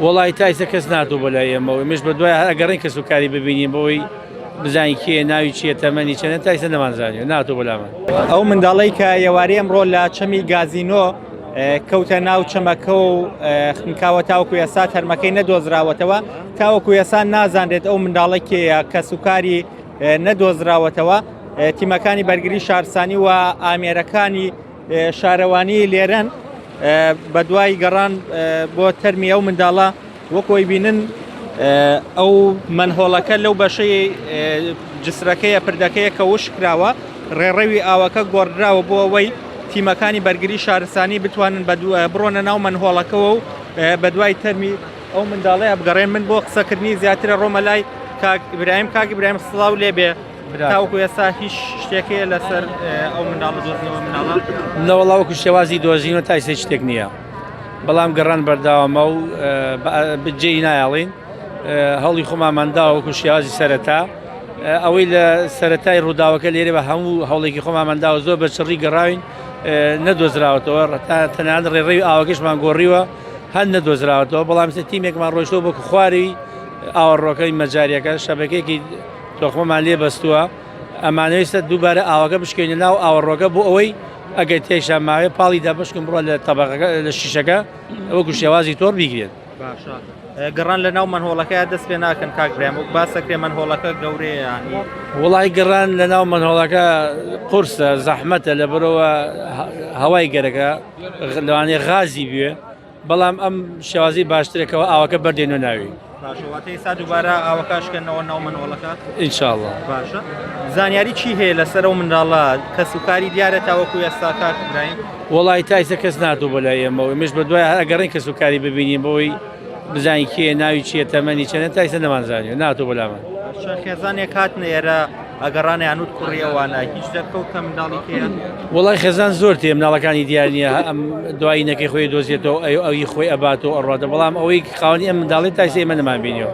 وەڵاهی تا ئیستا کەس نەهاتوە بۆ لای ئێمە و ئێمەش بە دوای هەر ئەگەڕێین کەس و کاری ببینین بۆی بزانین کێیە ناوی چیە تەمەنی چەنە تا ئیستا نەمان زانیوە ناتوە بۆ لامان. ئەو منداڵەی کە یەواری ئەمڕۆ لە چەمی گازینۆ کەوتە ناو چەمەکە و خنکاوە تاوەکو ئێستا تەرمەکەی نەدۆزراوەتەوە تاوەکو ئێستا نازانرێت ئەو منداڵە کێیە کەس و کاری نەدۆزراوەتەوە تیمەکانی بەرگری شارسانی و ئامێرەکانی شارەوانیی لێرەن بەدوای گەڕان بۆ تەرمی ئەو منداڵە وەکۆی بینن ئەو منهۆڵەکە لەو بەشەی جسرەکەیە پردەکەیە کە وش کراوە ڕێڕەوی ئاوەکە گۆڕدراوە بۆ ئەوەی تیمەکانی بەرگری شارستانی بتوانن بڕۆنە ناو منهۆڵەکەەوە و بەدوای تەرمی ئەو منداڵی ئەبگەڕێن من بۆ قسەکردنی زیاترە ڕۆمە لای کاک برایم کاک برایم سڵاو لێبێ تاوەکو ئێستا هیچ شتێکەیە لەسەر ئەو منداڵە دۆزنەوە مناڵە نەوەڵاوەکو شێوازی دۆزینەوە تا ئێستا شتێک نییە بەڵام گەڕان بەرداوامە و بجێی نایاڵین هەڵی خۆمان منداوەکو شێوازی سەرەتا ئەوەی لە سەتای ڕووداوەکە لێرە بە هەموو هەوڵێکی خۆمان منداوە زۆر بە چڕی گەڕاوین نەدۆزراوەتەوە ڕتا تەنان ڕێڕێوی ئاوەکەشمان گۆڕیوە هەند نەدۆزراوەتەوە بەڵام سە تیمێکمان ڕۆیشتەوە بۆ خواری ئاوەڕۆکەی مەجاریەکە شەبەکێکی کە خۆمان لێ بەستووە ئەمانویستە دووبارە ئاوەکە بشکێنە ناو ئاوەڕۆکە بۆ ئەوەی ئەگەر تێیشان ماوێ پاڵی دابشکن بڕۆ لە تەبەقەکە لە شیشەکە وەکو شێوازی تۆڕ بیگرێت. باشە گڕان لە ناو مەنهۆڵەکەیا دەست پێ ناکەن کاک برام وەک باسە کرێ مەنهۆڵەکە گەورەیە وڵی گڕان لە ناو مەنهۆڵەکە قورسە زەحمەتە لە بەرەوە هەوای گەرەکە لەوانێ غازی بوێ بەڵام ئەم شێوازی باشترێکەوە ئاوەکە بەردێنە ناوی باشە واتە ئێستا دووبارە ئاوەکە شکێنەوە ناو منۆڵەکە ان شاء الله باشە زانیاری چی هەیە لەسەر و منداڵە کەس و کاری دیارە تاوەکو ئێستا کاک ئیبراهیم وڵی تایسە کەس ناتوو بۆ لای ئێمەوە مش بە دوای ئەگەڕین کەس و کاری ببینین بۆی بزانین کێ ناوی چیە تەمەنی چەنە تایسە نەمانزانانی ناتوو بەلامان چەند خێزانێک هاتنە ئێرە ئەگەڕانە یانوت کوڕی ئەوانە هیچ دەرکەوتە منداڵی پێیان وڵای خێزان زۆر تێ مناڵەکانی دیار نییە ئەم دوایینەکەی خۆی دۆزیێتەوە ئەو ئەوی خۆی ئەبات و ئەڕاتە بەڵام ئەوەی خاوەنی ئەم منداڵی تاسی ئێمە نەمان بینیەوە.